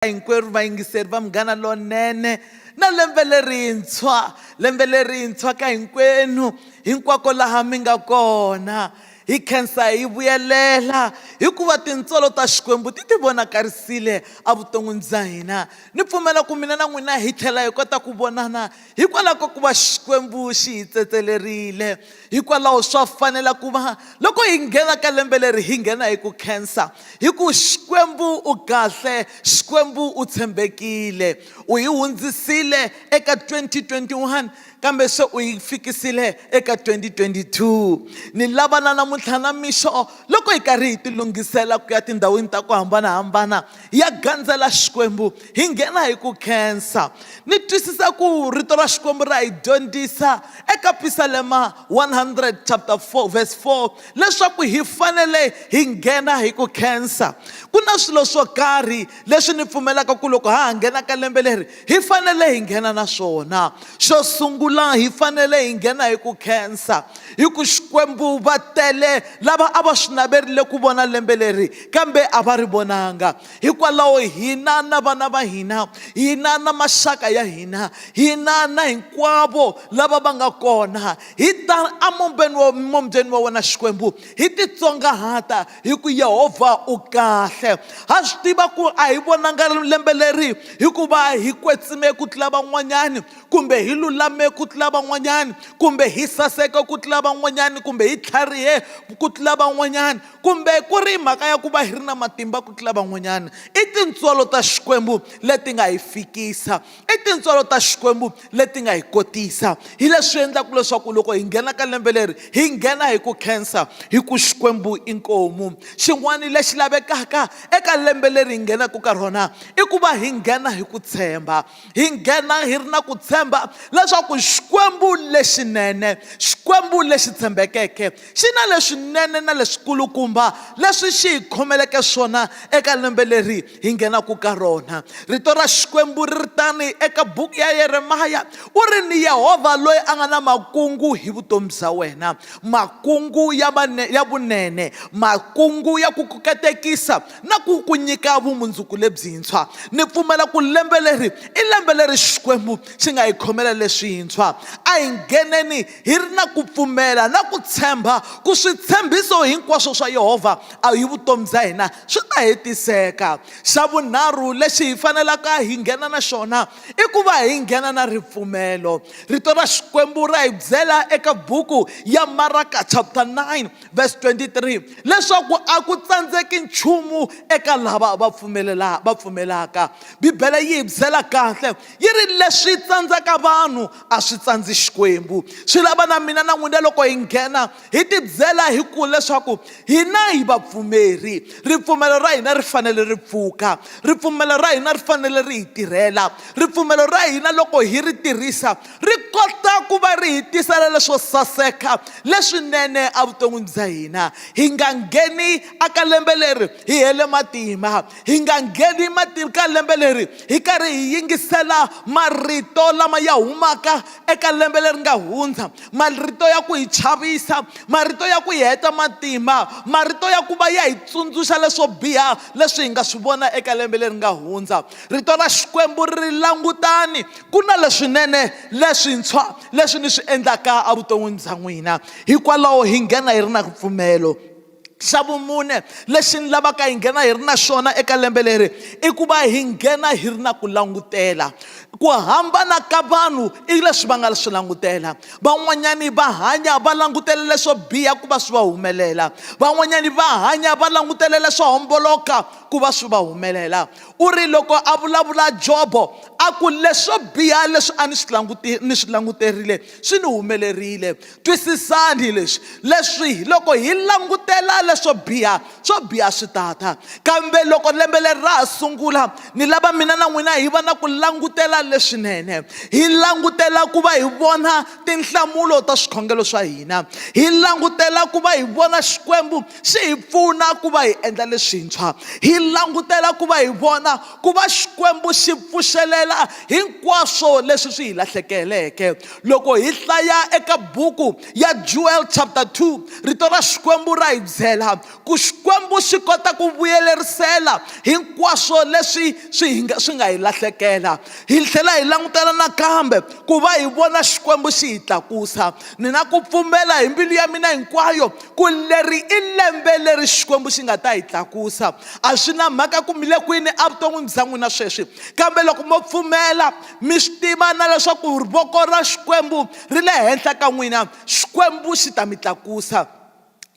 hinkwerhu vayingiseri va Munghana Lonene na lembe lerintshwa lembe lerintshwa ka hinkwenu hinkwako laha mi nga kona hi khensa hi vuyelela hikuva tintswalo ta xikwembu ti ti vonakarisile evuton'wini bya hina ni pfumela ku mina na n'wina hi tlhela hi kota ku vonana hikwalaho ka ku va xikwembu xi hi tsetselerile hikwalaho swa fanela ku va loko hi nghena ka lembe leri hi nghena hi ku khensa hi ku xikwembu u kahle xikwembu u tshembekile u yi hundzisile eka 2021 kambe se u yi fikisile eka 2022 ni lavana namuntlha na mixo loko hi karhi hi tilunghisela ku ya tindhawini ta ku hambanahambana ya gandzela xikwembu hi nghena hi ku khensa ni twisisa ku rito ra xikwembu ra hi dyondzisa eka pisalema 100 chapter 4 verse 4 leswaku hi fanele hi nghena hi ku khensa ku na swilo swo karhi leswi ni pfumelaka ku loko ha ha nghena ka lembe leri hi fanele hi nghena na swona xo sungula hi fanele hi nghena hi ku khensa hi ku xikwembu va tele lava a va swi naverile ku vona lembe leri kambe a va ri vonanga hikwalaho hina na vana va hina hina na maxaka ya hina hina na hinkwavo lava va nga kona hi ta amumbeni wa mumbyeni wa wena xikwembu hi titsongahata hi ku yehovha u kahle ha swi tiva ku a hi vonanga lembe leri hikuva hi kwetsime ku tlula van'wanyani kumbe hi lulame ku tlula van'wanyani kumbe hi saseka ku tlula van'wanyani kumbe hi tlharihe ku tlula van'wanyani kumbe ku ri mhaka ya ku va hi ri na matimba ku tlula van'wanyani i tintswalo ta xikwembu leti nga hi fikisa I tintswalo ta Xikwembu leti nga hi kotisa hi leswi endlaka leswaku loko hi nghena ka lembe leri hi nghena hi ku khensa hi ku Xikwembu i nkomu xin'wana lexi lavekaka eka lembe leri hi nghenaka ka rona i ku va hi nghena hi ku tshemba hi nghena hi ri na ku tshemba leswaku Xikwembu lexinene Xikwembu lexi tshembekeke xi na leswinene na leswikulukumba leswi xi hi khomeleke swona eka lembe leri hi nghenaka ka rona rito ra xikwembu ri ri tani eka buku ya yeremaya u ri ni yehovha loyi a nga na makungu hi vutomi bya wena makungu ya vane, ya vunene makungu ya ku kuketekisa na ku ku nyika vumundzuku lebyintshwa ni pfumela ku lembe leri i lembe leri xikwembu xi nga hi khomela leswintshwa a hi ngheneni hi ri na ku pfumela na ku tshemba ku switshembiso hinkwaswo swa yehovha a hi vutomi bya hina swi ta hetiseka xa vunharhu lexi hi fanelaka hi nghena na xona i ku va hi nghena na ripfumelo rito ra xikwembu ra hi byela eka buku ya maraka chapter 9 verse 23 leswaku a ku tsandzeki nchumu eka lava va pfumelela va pfumelaka bibele yi hi byela kahle yi ri leswi tsandzaka vanhu a swi tsandzi xikwembu swi lava na mina na n'wina loko hi nghena Hi tibyela hi ku leswaku hina hi vapfumeri ripfumelo ra hina ri fanele ri pfuka ripfumelo ra hina ri fanele ri hi tirhela ripfumelo ra hina loko hi ri tirhisa ri kota ku va ri hi tisela leswo saseka leswinene evuton'wini bya hina hi nga ngheni aka lembe leri hi hele matimba hi nga ngheni matimba ka lembe leri hi karhi hi yingisela marito lama ya humaka eka lembe leri nga hundza marito ya ku hi chavisa marito ya ku hi heta matimba marito ya ku va ya hi tsundzuxa leswo biha leswi hi nga swi vona eka lembe leri nga hundza rito ra xikwembu ri langutani ku na leswinene leswintshwa leswi ni swi endlaka evuton'wini bya n'wina hikwalaho hi nghena hi ri na ripfumelo xa vumune lexi ni lavaka hi nghena hi ri na xona eka lembe leri i ku va hi nghena hi ri na ku langutela ku hambana ka vanhu i leswi va nga swi langutela van'wanyani va hanya va langutele leswo biha ku va swi va humelela van'wanyani va hanya va langutele leswo homboloka ku va swi va humelela u ri loko a vulavula jobo a ku leswo biha leswi a ni swi languti ni swi languterile swi ni humelerile Twisisani leswi, leswi loko hi langutela leswo biha, swo biha swi ta ta. Kambe loko lembe leri ra ha sungula, ni lava mina na n'wina hi va na ku langutela leswinene. Hi langutela ku va hi vona tinhlamulo ta swikhongelo swa hina. Hi langutela ku va hi vona Xikwembu xi hi pfuna ku va hi endla leswintshwa. Hi langutela ku va hi vona ku va Xikwembu xi pfuxelela hinkwaswo leswi swi hi lahlekeleke. loko hi hlaya eka buku ya jewel chapter 2 rito ra xikwembu ra hi byela ku xikwembu xi kota ku vuyelerisela hinkwaswo leswi swi hi nga swi nga hi lahlekela hi tlhela hi langutela nakambe ku va hi vona xikwembu xi hi tlakusa ni na ku pfumela hi mbilu ya mina hinkwayo ku leri i lembe leri xikwembu xi nga ta hi tlakusa a swi na mhaka ku mile kwini evuton'wini bya n'wina sweswi kambe loko mo pfumela mi swi tiva na leswaku voko ra xikwembu ri le henhla ka n'wina xikwembu xi ta mi tlakusa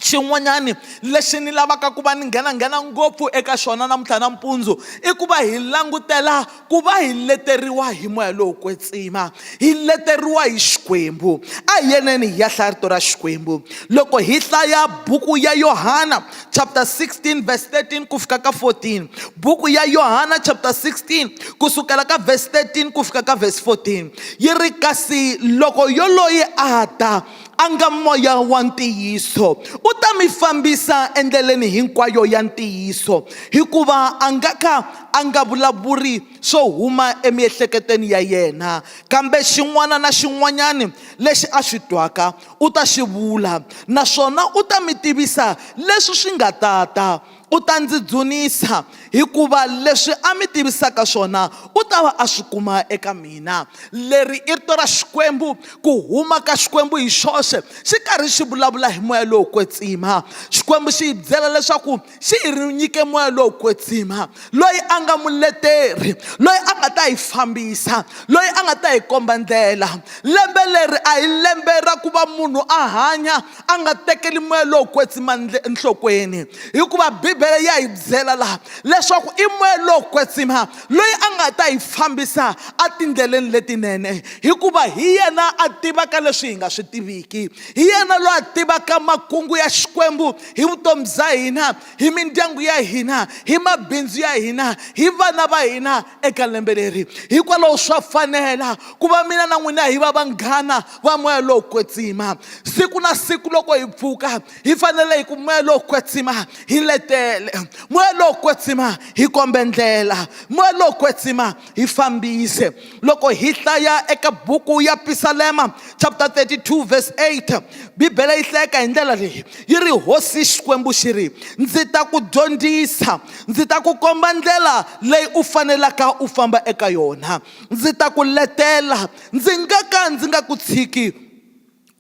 xin'wanyani lexi ni lavaka ku va ni nghenanghena ngopfu eka xona namuntlha nampundzu i ku va hi langutela ku va hi leteriwa hi moya lowo kwetsima hi leteriwa hi xikwembu a hi yeneni hi ya hlaya rito ra xikwembu loko hi hlaya buku ya yohana chapter 16 verse 13 ku fika ka 14 buku ya yohana chapter 16 ku sukela ka verse 13 ku fika ka verse 14 yi ri kasi loko yoloyi a ta a nga moya wa ntiyiso u ta mi fambisa endleleni hinkwayo ya ntiyiso hikuva a nga ka a nga vulavuri swo huma emiehleketweni ya yena kambe xin'wana na xin'wanyani lexi a swi twaka u ta xi vula, naswona u ta mi tivisa leswi swi nga ta ta. U ta ndzi dzunisa, hikuva leswi a mi tivisaka swona u ta va a swi kuma eka mina. Leri i rito ra Xikwembu, ku huma ka Xikwembu hi xoxe, xi karhi xi vulavula hi moya lowo kwetsima. Xikwembu xi hi byela leswaku xi hi ri nyike moya lowo kwetsima loyi a nga muleteri loyi a nga ta hi fambisa loyi a nga ta hi komba ndlela lembe leri a hi lembe ra ku va munhu a hanya a nga tekeli moya lowo kwetsima nhlokweni hikuva bibele ya hi byela laha leswaku i moya lowo kwetsima loyi a nga ta hi fambisa etindleleni letinene hikuva hi yena a tivaka leswi hi nga swi tiviki hi yena loyi a tivaka makungu ya xikwembu hi vutomi bya hina hi mindyangu ya hina hi mabindzu ya hina hi vana va hina eka lembe leri hikwalaho swa fanela ku va mina na n'wina hi va vanghana va moya lowo kwetsima siku na siku loko hi pfuka hi fanele hi ku moya lowo kwetsima hi letele moya lowo kwetsima hi kombe ndlela moya lowo kwetsima hi fambise loko hi hlaya eka buku ya pisalema chapter 32 verse 8 bibele yi hlayeka hi ndlela leyi yi ri hosi xikwembu xi ri ndzi ta ku dyondzisa ndzi ta ku komba ndlela leyi u fanelaka u famba eka yona ndzi ta ku letela ndzi nga ka ndzi nga ku tshiki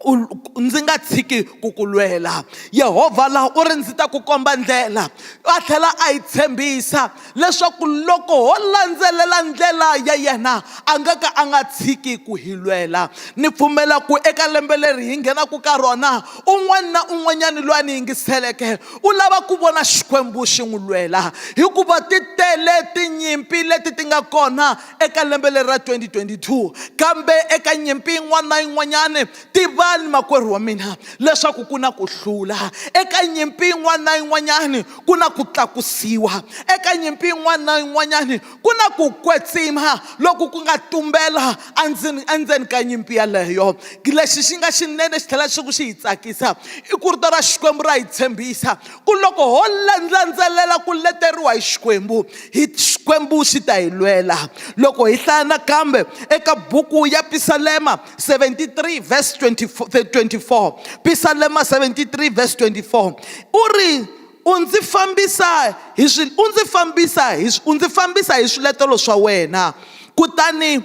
u ndzi nga tshiki ku ku lwela yehovha la u ri ndzi ta ku komba ndlela a tlhela a yi tshembisa leswaku loko ho landzelela ndlela ya yena a nga ka a nga tshiki ku hi lwela ni pfumela ku eka lembe leri hi nghenaka ka rona un'wana na un'wanyani loyi a ni yingiseleke u lava ku vona xikwembu xi n'wi lwela hikuva ti tele tinyimpi leti ti nga kona eka lembe leri ra 2022 kambe eka nyimpi yin'wana na yin'wanyana tivani makwerhu wa mina leswaku ku na ku hlula eka nyimpi yin'wana na yin'wanyana ku na ku tlakusiwa eka nyimpi yin'wana na yin'wanyana ku na ku kwetsima loku ku nga tumbela endzeni endzeni ka nyimpi yaleyo lexi xi nga xinene xi tlhela xi ku xi hi tsakisa i ku rito ra xikwembu ra hi tshembisa ku loko ho landzelela ku leteriwa hi xikwembu hi xikwembu xi ta hi lwela loko hi hlaya nakambe eka buku ya pisalema 73 vs 24 pisalema 73 vs 24 u ri u ndzi fambisa hi swi u ndzi fambisa hi u ndzi fambisa hi swiletelo swa wena kutani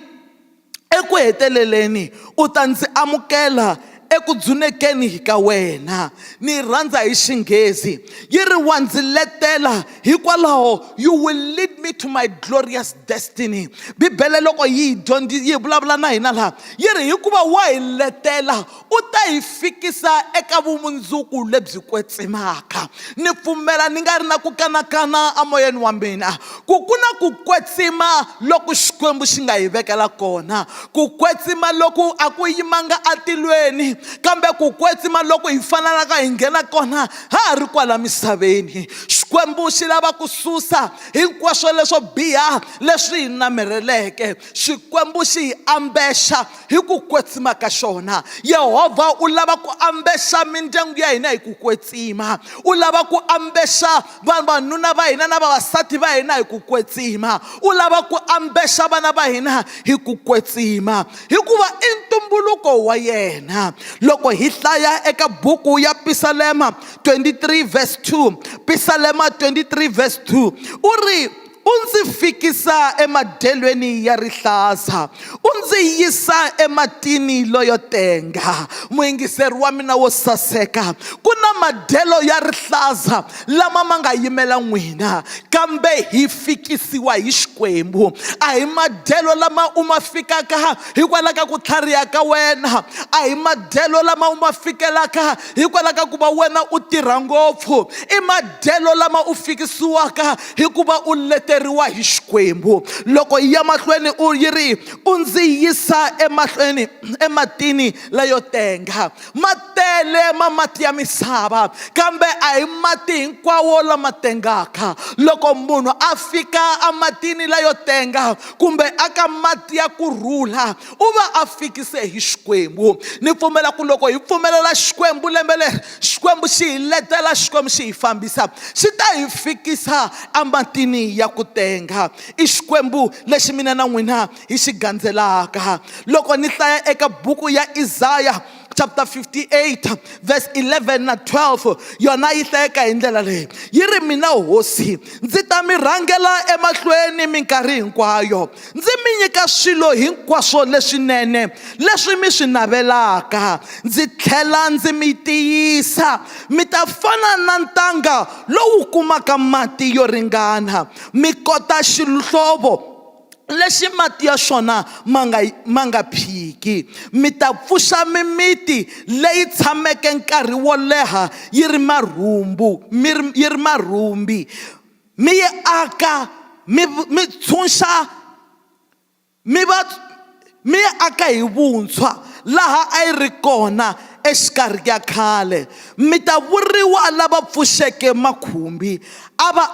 Eku heteleleni, u ta ndzi amukela eku dzunekeni ka wena. Ni yi rhandza hi Xinghezi, yi ri, Wa ndzi letela hikwalaho you will lead me to my glorious destiny. Bibele loko yi hi yi hi vulavula na hina laha, yi ri hikuva wa hi letela, u ta hi fikisa eka vumundzuku lebyi kwetsimaka. Ni pfumela ni nga ri na ku kanakana emoyeni wa mina ku ku na ku kwetsima loku Xikwembu xi nga hi vekela kona. Ku kwetsima loku a ku yimanga atilweni, kambe ku kwetsima loku hi fanelaka hi nghena kona ha ha ri kwala misaveni. Xikwembu xi lava ku susa hinkwaswo leswo biha leswi hi namerheleke. Xikwembu xi hi ambexa hi ku kwetsima ka xona yehovha u lava ku ambexa mindyangu ya hina hi ku kwetsima u lava ku ambexa vavanuna va hina na vavasati va hina hi ku kwetsima u lava ku ambexa vana va hina hi ku kwetsima hikuva i ntumbuluko wa yena loko hi hlaya eka buku ya pisalema 23 vs 2 pisalema 23 vs 2 u ri U ndzi fikisa emadyelweni ya rihlaza, u ndzi yisa ematini loyo tenga. Muyingiseri wa mina wo saseka, ku na madyelo ya rihlaza lama ma nga yimela n'wina, kambe hi fikisiwa hi Xikwembu. A hi madyelo lama u ma fikaka hikwalaho ka ku tlhariha ka wena, a hi madyelo lama u ma fikelaka hikwalaho ka ku va wena u tirha ngopfu, i madyelo lama u fikisiwaka hi ku va u leteriwa hi xikwembu loko yi ya mahlweni u yi ri u ndzi yisa emahlweni ematini leyo tenga ma tele ma mati ya misava kambe a hi mati hinkwawo lama tengaka loko munhu a fika ematini leyo tenga kumbe aka mati ya ku rhula u va a fikise hi xikwembu ni pfumela ku loko hi pfumelela xikwembu lembe leri xikwembu xi hi letela xikwembu xi hi fambisa xi ta hi fikisa ematini ya ku tenga i xikwembu lexi mina na n'wina hi xi gandzelaka loko ni hlaya eka buku ya izaya chapter 58 verse 11 na 12 yona yi hlayeka hi ndlela leyi yi ri mina hosi ndzi ta mi rhangela emahlweni minkarhi hinkwayo ndzi mi nyika swilo hinkwaswo leswinene leswi mi swi navelaka ndzi tlhela ndzi mi tiyisa mi ta fana na ntanga lowu kumaka mati yo ringana mi kota xihlovo lexi mati ya xona ma nga ma nga phiki mi ta pfuxa mimiti leyi tshameke nkarhi wo leha yi ri marhumbu mi ri yi ri marhumbi mi yi aka mi mi tshunxa mi va mi yi aka hi vuntshwa laha a yi ri kona exikarhi ka khale mi ta vuriwa lava pfuxeke makhumbi a va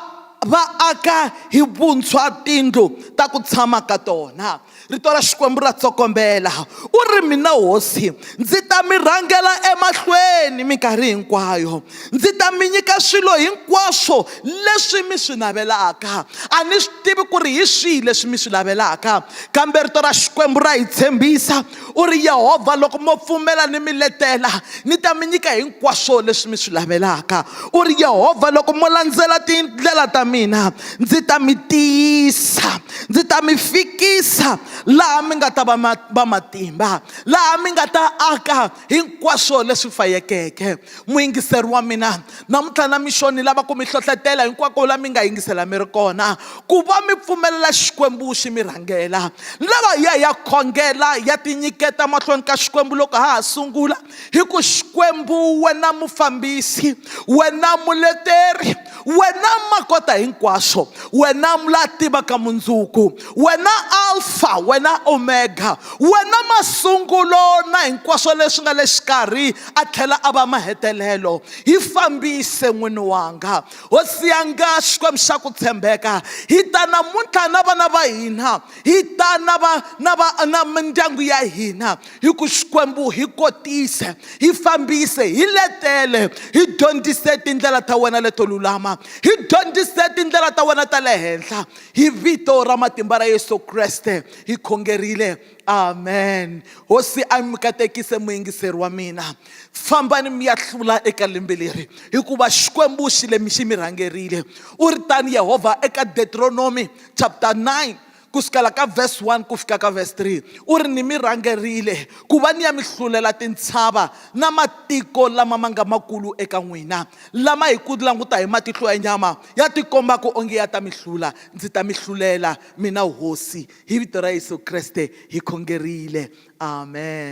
va aka hi vuntshwa tindlu ta ku tshama ka tona rito ra xikwembu ra tsokombela u ri mina hosi ndzi ta mi rhangela emahlweni minkarhi hinkwayo ndzi ta mi nyika swilo hinkwaswo leswi mi swi navelaka a ni swi tivi ku ri hi swihi leswi mi swi navelaka kambe rito ra xikwembu ra hi tshembisa U ri, Yehovha, loko mo pfumela ni mi letela, ni ta mi nyika hinkwaswo leswi mi swi lavelaka. U ri, Yehovha, loko mo landzela tindlela ta mina, ndzi ta mi tiyisa, ndzi ta mi fikisa laha mi nga ta va va matimba, laha mi nga ta aka hinkwaswo leswi fayekeke. muyingiseri wa mina namuntlha na mixo ni lava ku mi hlohlotela hinkwako la mi nga yingisela mi ri kona ku va mi pfumelela xikwembu xi mi rhangela ni lava ya ya khongela ya tinyiketa mahlweni ka xikwembu loko ha ha sungula hi ku xikwembu wena mufambisi wena muleteri wena makota hinkwaswo wena la tivaka mundzuku wena alfa wena omega wena masungulo na hinkwaswo leswi nga le xikarhi a tlhela a va mahetelelo hi fambise n'wini wanga hosi yanga xikwembu xa ku tshembeka hi ta namuntlha na vana va hina hi ta na va na va na mindyangu ya hina hi ku xikwembu hi kotise hi fambise hi letele hi dyondzise tindlela ta wena leto lulama hi dyondzise tindlela ta wena ta le henhla hi vito ra matimba ra yesu kreste hi khongerile amen hosi a mi katekise muyingiseri wa mina fambani mi ya hlula eka lembe leri hikuva xikwembu xi le mi xi mi rhangerile u ri tani yehovha eka deuteronomy chapter 9 ku sukela ka verse 1 ku fika ka verse 3 u ri ni mi rhangerile ku va ni ya mi hlulela tintshava na matiko lama ma nga makulu eka n'wina lama hi ku languta hi matihlo ya nyama ya tikombaka onge ya ta mi hlula ndzi ta mi hlulela Mina Hosi, hi vito ra Yesu Kreste hi khongerile. Amen.